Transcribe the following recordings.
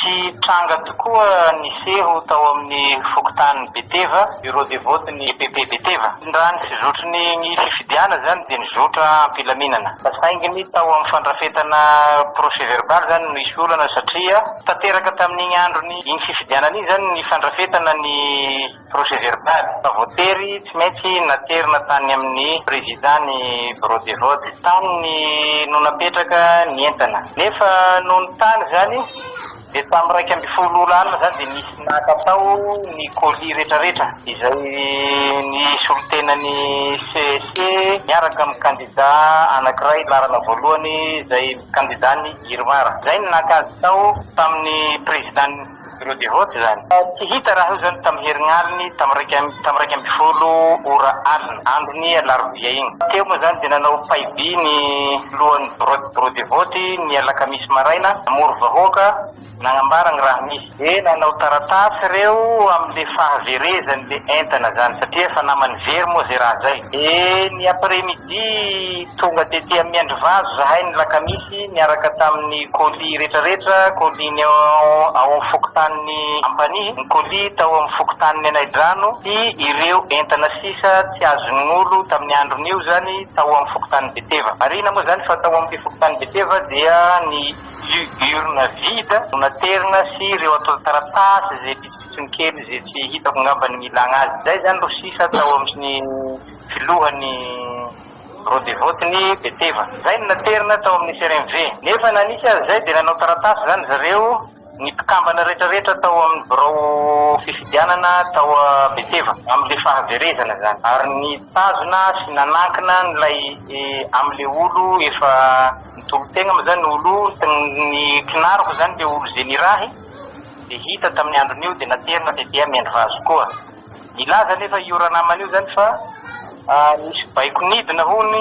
Tsy tranga tokoa ny seho tao amin'ny fokontanin'i Beteva, Bureau de vote ny EPP Beteva. Raha ny fizotry ny ny fifidianana izany dia nizotra am-pilaminana. Saingy ny tao amin'ny fandrafetana procès verbal izany no nisy olana satria tanteraka tamin'iny andron'iny fifidianana iny izany ny fandrafetana ny. Projet verbal. Fa voatery tsy maintsy naterina tany amin'ny Président ny Bureau de vote. Tany no napetraka ny entana. Nefa nony tany izany dia tamin'ny iraika ambin'ny folo ora alina izany dia nisy naka tao ny colis retraretra izay nisolotenan'ny CEC miaraka amin'ny candidat anakiray laharana voalohany izay candidat ny Irmar. Izay no naka azy tao tamin'ny Président ny. Ireo devote izany. Tsy hita raha eo izany tamin'ny herin'aliny tamin'ny tamin'ny iraika ambin'ny folo ora alina, andron'ny alarobia iny. Teo moa izany dia nanao paiby ny lohan'ny biraon'ny devote ny alakamisy maraina, namory vahoaka, nagnambara ny raha misy. Dia nanao taratasy ireo amin'ilay fahaverezan'ilay entana izany satria efa naman'ny very moa izay raha izay. Dia ny après-midi. Dia tonga tety amin'ny andrivazo zahay ny lakamisy niaraka tamin'ny colis retraretra, colis ny ao amin'ny fokontanin'i Ampanihy, ny colis tao amin'ny fokontanin'i Anaidrano sy ireo entana sisa tsy azon'olo tamin'ny andron'io izany tao amin'ny fokontanin'i Beteva. Marihina moa izany fa tao amin'ity fokontanin'i Beteva dia ny urne vide no naterina sy ireo antontan-taratasy izay pitsopitsony kely izay tsy hitako ngamba ny milagna azy. Izay izany no sisa tao amin'ny. filohan'ny Bureau de vote ny Beteva. Izay no naterina tao amin'ny CRMV. Nefa na nisy aza izay dia nanao taratasy izany zareo ny mpikambana retraretra tao amin'ny birao fifidianana tao Beteva amin'ilay fahaverezana izany ary nitazona sy nanankina an'ilay amin'ilay olo efa nitolo-tegna moa izany olo ny kinariko izany ilay olo izay nirahy dia hita tamin'ny andron'io dia naterina tety amin'ny andry vazo koa. Nilaza anefa io ranamana io izany fa nisy baiko nidina hono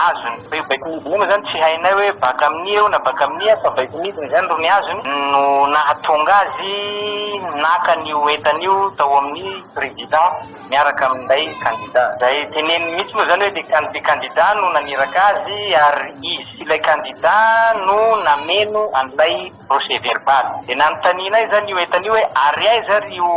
azony, fa io baiko nidina io moa izany tsy hainay hoe baka amin'ia eo na baka amin'ia fa baiko nidina izany ro ny azony no nahatonga azy naka an'io entana io tao amin'ny prezida miaraka amin'ilay kandida. Izay teneniny mihitsy moa izany hoe le kandida kandida no naniraka azy ary izy sy ilay kandida no nameno an'ilay. procès verbal. Dia nanontanianay izany io entana io hoe ary aiza ary io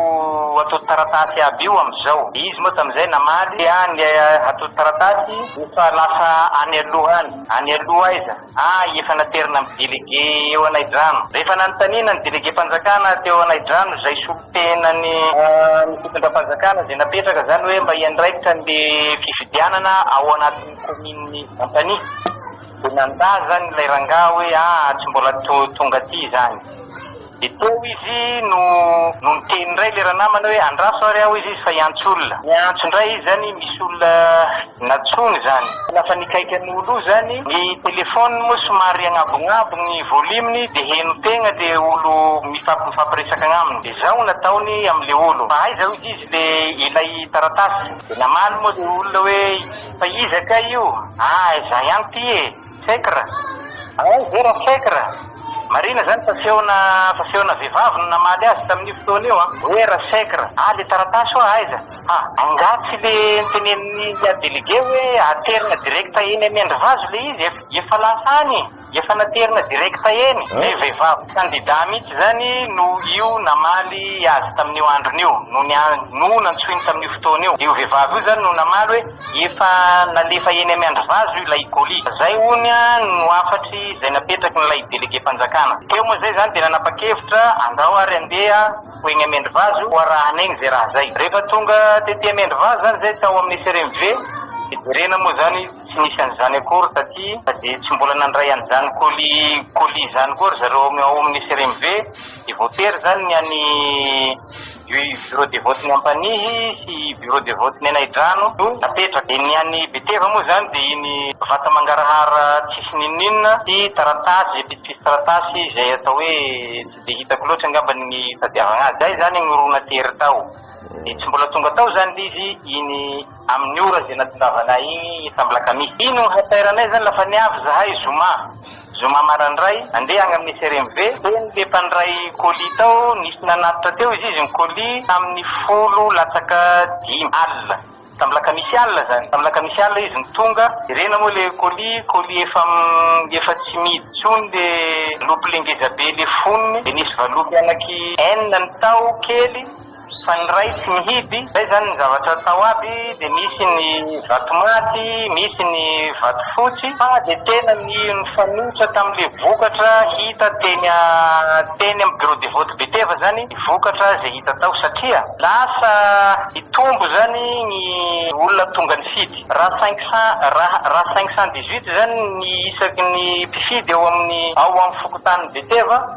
atodin-taratasy aby io amin'izao? Dia izy moa tamin'izay namaly hoe ah ny atodin-taratasy efa lasa any aloha any. Any aloha aiza? Ah efa naterina amin'ny délégué eo Anaidrano. Rehefa nanontaniana ny délégué-mpanjakana teo Anaidrano izay solontenan'ny fitondram-panjakana izay napetraka izany hoe mba hiandraikitra an'ilay fifidianana ao anatin'ny kaominin'i Antania. Dia nandà izany ilay rangahy hoe aa tsy mbola tonga aty izany. Dia teo izy no no niteny indray ilay ranamana hoe andraso ary aho izy fa hiantso olona. Niantso indray izy izany misy olona nantsoiny izany. Lasa nikaika ny ho lo izany ny téléphone moa somary agnabognabogy ny volume-ny dia heno tegna le olo mifamp mifampiresaka agnaminy. Dia izao no nataony amin'ilay olo fa aiza hoy izy ilay ilay taratasy. Dia namaly moa ilay olona hoe Fa iza kay io? Ah izaho ihany ity e! Fekr! Ay ve ra Fekr! Marina izany fa feona fa feona vehivavy no namaly azy tamin'io fotoana io an! Hoe ra Fekr! Ah le taratasy hoa aiza? Ha! Angaha tsy le notenenin'i Yah Délégué hoe aterina direct eny amin'ny andry vazo le izy? Efa lasa any e! Efa naterina direct eny. Ny vehivavy kandida mihitsy izany no io namaly azy tamin'io androny io, no niantso, no nantsoiny tamin'io fotoana io. Io vehivavy io izany no namaly hoe efa nalefa eny am andry vazo io ilay colis. Izay hono no hafatry izay napetraky ny ilay delegem-panjakana. Teo moa izay izany dia nanapa-kevitra andao ary handeha ho eny am endry vazo ho arahana eny izay raha izay. Rehefa tonga tety am endry vazo izany izay tao amin'ny SRMV dia jerena moa izany. Tsy nisy an'izany akory taty fa dia tsy mbola nandray an'izany colis colis izany koa ry zareo ao ao amin'ny CRMV dia voatery izany ny an'ny bureau de vote ny Ampanihy sy bureau de vote ny Anaidrano no napetraka. Dia ny an'ny Beteva moa izany dia iny vata mangarahara tsisy n'inon'inona sy taratasy izay pitsopitsy taratasy izay atao hoe tsy dia hitako loatra angamba ny itadiavana azy. Izay izany no ro natery tao dia tsy mbola tonga tao izany ilay izy iny Amin'ny ora izay natongavanay iny efa mbola kami. Iny no hatairanay izany la fa niavy zahay zoma. Zoma marandray andeha agny amin'ny CRMV. Teny le mpandray colis tao nisy nanatitra teo izy izy ny colis tamin'ny folo latsaka dimy alina. Tamin'ny lakamisy alina izany. Tamin'ny lakamisy alina izy no tonga. Jerena moa le colis, colis efa efa tsy mihidy tsony le lopy le ngezabe le fonony. Dia nisy valopy anaky enina ny tao kely. Fa ny Ray tsy mihidy, zay zany ny zavatra atao aby dia misy ny vato maty, misy ny vato fotsy, fa dia tena ny nifanohitra tamin'ilay vokatra hita teny teny amin'ny bureau de vote Beteva zany ny vokatra izay hita tao satria lasa nitombo zany ny olona tonga nifidy raha cinq cent raha raha cinq cent dix huit zany ny isaky ny mpifidy ao amin'ny ao amin'ny fokontany Beteva,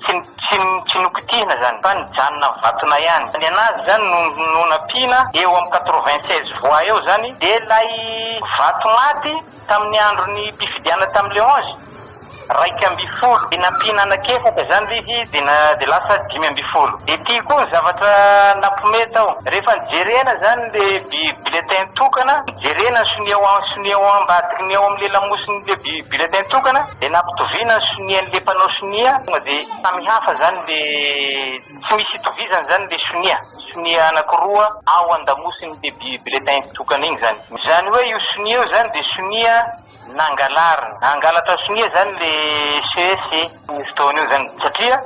Tsy nokitihina izany fa nijanona mivatona ihany. Ny anazy izany no nampiana eo amin'ny quatre-vingt-seize voix eo izany dia ilay vato maty tamin'ny andron'ny mpifidianana tamin'ny le onze iraika ambin'ny folo dia nampiana anankiefatra izany ilay izy dia lasa dimy ambin'ny folo. Dia ity koa ny zavatra nampihomehy tao. Rehefa nijerena izany ilay bulletin tokana, nijerena ny sonia ao ambadiky ny eo amin'ny lamosin'ilay Bulletin tokana dia nampitoviana ny sonian le mpanao sonia tonga dia samy hafa zany le tsy misy itovizany zany le sonia sonia anakiroa ao andamosiny le bulletin tokana iny zany zany hoe io sonia io zany dia sonia nangalarina hangalatra sonia zany le ces ny fotoana io zany satria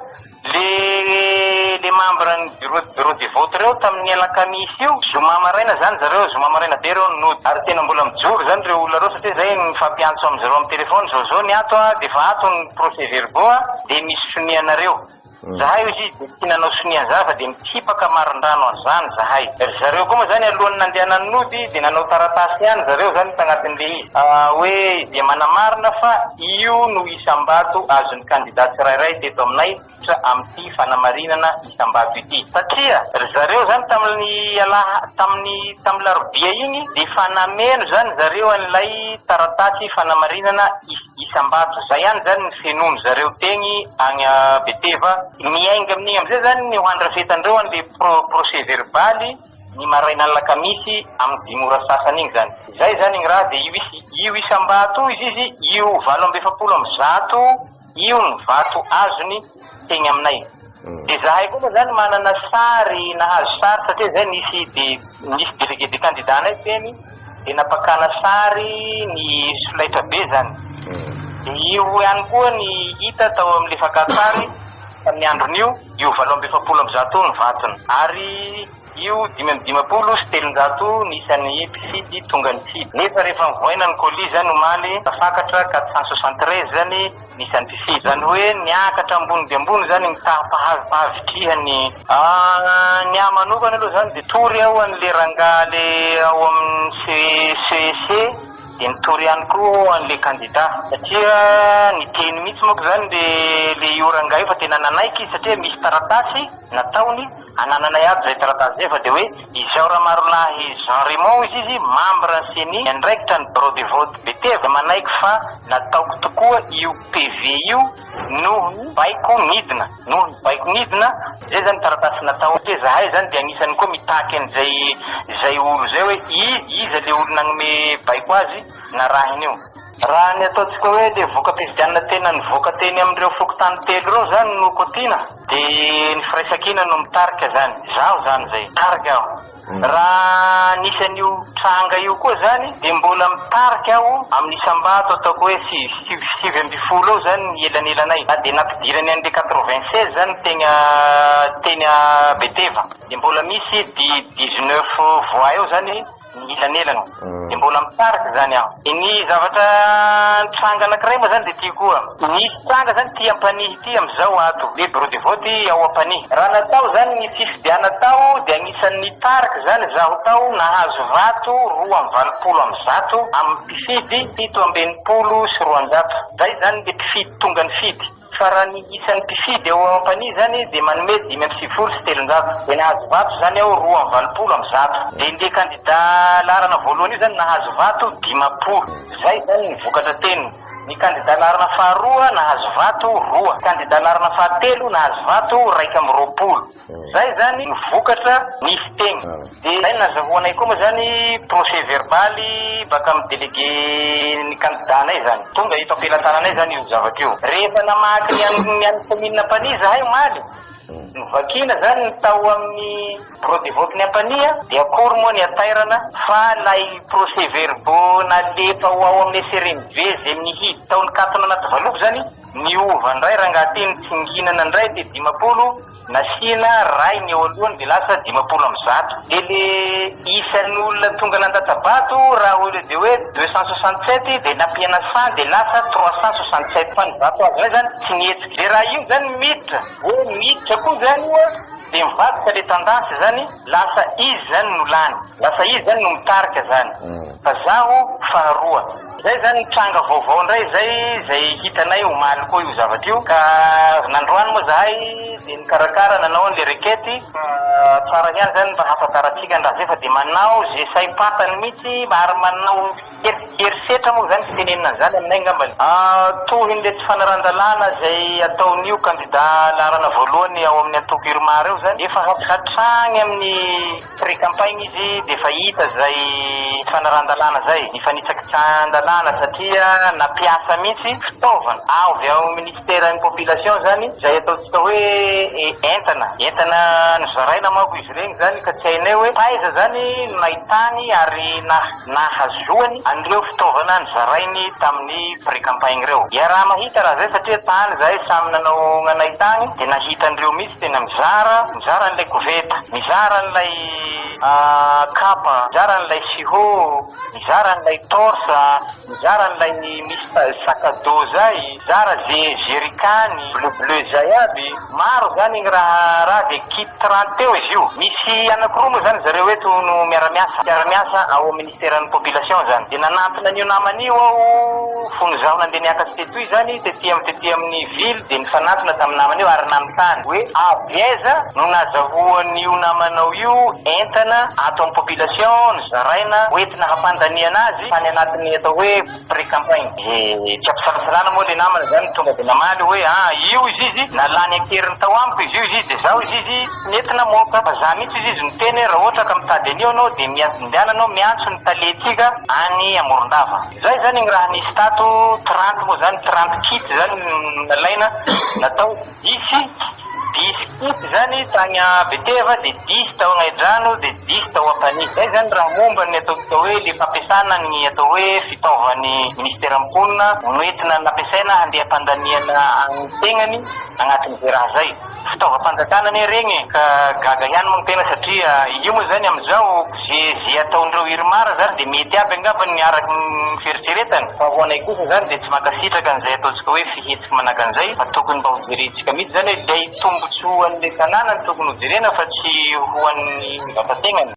Le le membre ny bureau bureau de vote reo tamin'ny alakamisy io, zoma maraina zany zareo, zoma maraina be reo no nody, ary tena mbola mijoro zany reo olona reo satria zay nifampiantso amin zareo am telefony zao zao ny ato a, de efa ato ny procès verbaux a, de misy sonia nareo. Zahay ozy de tsy nanao sonia anzany fa de mitsipaka marindrano anzany zahay. Ry zareo koa moa zany alohan'ny nandeha nanody de nanao taratasy ihany zareo zany tagnatin'le izy hoe dia manamarina fa io no. isam-bato azon'ny kandida tsirairay teto aminay miditra amin'ity fanamarinana isam-bato ity. Satria ry zareo izany tamin'ny alaha, tamin'ny, tamin'ny larobia iny dia efa nameno izany zareo an'ilay taratasy fanamarinana isam-bato. Izay ihany izany ny fenoan-dry zareo teny agny Beteva. Miainga amin'igny amin'izay izany ny ho andrafetan-dreo an'ilay pro, procès-verbal. ny marainan'ny lakamisy amin'ny dimy ora sasany iny izany. Izay izany igny raha dia io is, io isam-bato izy izy io valo amby efapolo amby zato io ny vato azony tegny aminay. Dia zahay koa moa zany manana sary nahazo sary satria zay nisy dé, nisy délégué de candidat-nay teny dia nampakana sary ny solaitrabe zany. Dia io ihany koa ny hita tao amin'ny lefak'an-tsary. Tamin'ny andron'io, io valo amby efapolo amby zato ny vatony, ary io dimy amby dimampolo sy telonjato ny isan'ny mpifidy tonga nifidy. Nefa rehefa nivoaina ny colis izany omaly, tafakatra quatre cent soixante treize izany ny isan'ny mpifidy. Izany hoe niakatra ambony dia ambony izany ny taha-pahavitrihany. Ny ahy manokana aloha izany dia tory aho an'ilay rangahy ilay ao amin'ny CEC. Dia nitory ihany koa an'ilay kandida, satria ny teny mihitsy manko izany dia ilay io rangahy io fa tena nanaiky izy satria misy taratasy nataony, anananay aby izay taratasy izay fa dia hoe izao Ramarolahy Jean Raymond hoy izy membre ny ceni miandraikitra ny birao de vote Beteva manaiky fa nataoko tokoa io PV io noho ny baiko nidina. Noho ny baiko nidina, zay zany taratasy natao, de zahay zany de agnisany koa mitaky an'izay zay olo zay hoe i iza le olo nagnome baiko azy narahiny io. Raha ny ataontsika hoe le voka-pifidianana tena nivoaka teny amin'ireo fokontany telo ireo zany no kotiana de ny firaisankina no mitarika zany, zaho zany zay, tarika aho. Raha nisy an'io tranga io koa izany dia mbola mitarika aho amin'ny isam-bato ataoko hoe sivy, sivy ambin'ny folo eo izany ny elanelanay na dia nampidirany an'ilay quatre-vingt-seize izany teny, teny Beteva dia mbola misy dix-neuf voix eo izany ny elanelana. Tsy mbola misaraka izany aho. Ny zavatra nitranga anankiray moa izany dia ity koa. Nisy tranga izany ity Ampanihy ity amin'izao ato, hoe bureau de vote ao Ampanihy. Raha natao izany ny fifidianana tao dia anisan'ny nitarika izany izaho tao, nahazo vato roa amby valopolo amby zato amin'ny mpifidy fito amby enimpolo sy roanjato. Izay izany ilay mpifidy tonga nifidy. Fa raha ny isan'ny mpifidy ao Ampanihy izany dia manome dimy amby sivifolo sy telonjato, dia nahazo vato izany ao roa amby valopolo amby zato. Dia le kandida laharana voalohany io izany nahazo vato dimampolo. Izay izany ny vokatra teniny. Ny kandida laharana faharoa nahazo vato roa. Kandida laharana fahatelo nahazo vato iraika amby roapolo. Zay zany no vokatra ny fiteny. Dia izay no nazahoanay koa moa izany procès verbal baka amin'ny délégué ny candidat anay izany. Tonga eto am-pelatananay izany io zavatra io. Rehefa namaky ny an'ny ny an'ny commune Ampanihy izahay omaly, novakiana izany ny tao amin'ny bureau de vote-n'i Ampanihy dia akory moa ny hatairana fa ilay procès verbaux nalefa ho ao amin'ny SRMV izay nihidy tao nikatona anaty valopy izany, Niova ndray rangahy teo ny tsinginana ndray dia dimampolo nasiana ray ny eo alohany dia lasa dimampolo amby zato dia le isan'ny olona tonga nandatsa-bato raha au lieu de hoe deux cent soixante sept dia nampiana cent dia lasa trois cent soixante sept fa ny vato azonay zany tsy nihetsika dia raha io zany miditra hoe miditra koa zany io dia mivadika le tendance zany lasa izy zany no lany lasa izy zany no mitarika zany fa zaho faharoa. Zay zany tranga vaovao indray zay zay hitanay omaly koa io zavatra io ka nandroany moa zahay de nikarakara nanao anle requete ka tsara ihany zany mba hahafantarantsika ny razefa de manao ze saim-pantany mitsy ary manao herisetra moa zany fitenenana anzany aminay ngambany tohinle tsy fanaran-dalàna zay ataonio kandida laharana voalohany ao amin'ny antoko irmar io zany efa hatrany amin'ny Pré-campagne izy dia efa hita izay tsy fanaran-dalàna izay, ny fanitsakitsahan-dalàna satria nampiasa mihitsy fitaovana avy ao minisiteran'ny Population izany izay ataontsika hoe entana, entana nozaraina manko izy ireny izany ka tsy hainay hoe taiza izany no nahitany ary na. nahazoany an'ireo fitaovana nizarainy tamin'ny pré-campagne ireo. Iaraha-mahita raha izay satria tany izahay samy nanao ny anay tany dia nahita an'ireo mihitsy tena mizara, mizara an'ilay koveta, mizara an'ilay kapa, mizara an'ilay siho, mizara an'ilay torse, mizara an'ilay misy sac à dos zay, mizara ze jerikany bleu bleu zay aby. Maro izany ny raharaha dia kit trente eo izy io. Misy anankiroa moa izany zareo eto no miara-miasa, mpiara-miasa ao amin'ny Ministeran'ny Population izany. Dia nanantona an'io namana io aho fony izaho nandeha niakatra tetoa izany, tety amin'ny tety amin'ny ville dia nifanantona tamin'ny namana io ary nanontany hoe avy aiza no nazahoan'io namanao io entana ato amin'ny Population nozaraina hoentina hampandaniana azy tany anatin'ny atao hoe Pré-campagne. Dia tsy am-pisalasalana moa ilay namana izany no tonga dia namaly hoe, ah, io izy izy, na lany an-keriny tao amiko izy io izy izy, dia izaho izy izy tsy nety namoaka. Fa izaho mihitsy izy izy no niteny hoe, raha ohatra ka mitady an'io ianao dia miha, indehana ianao miantso ny talentsika any Amorondava. Izay izany ny raha nisy tato, trente moa izany, trente kits izany no nalaina, natao. Dihy, dihy fotsy izany tany Beteva, dia dihy tao Angahidrano, dia dihy tao Ampanihy. Izay izany raha momba ny atao atao hoe le fampiasana ny atao hoe fitaovan'ny Ministeran'ny Mponina noentina nampiasaina handiham-pandaniana an'ny tegnany agnatin'izay raha izay. Fitaovam-panjakana anie regny e! Ka gaga ihany moa ny tegna satria io moa izany amin'izao, Ze ze ataondreo Irmar zany de mety aby angamba ny araky ny fieritreretany fa ho anay kosa zany de tsy mankasitraka an'izay ataontsika hoe fihetsika manaka an'izay fa tokony mba hojerentsika mitsy zany hoe lay tombotsoan'le tanàna no tokony hojerena fa tsy ho an'ny vatategnany.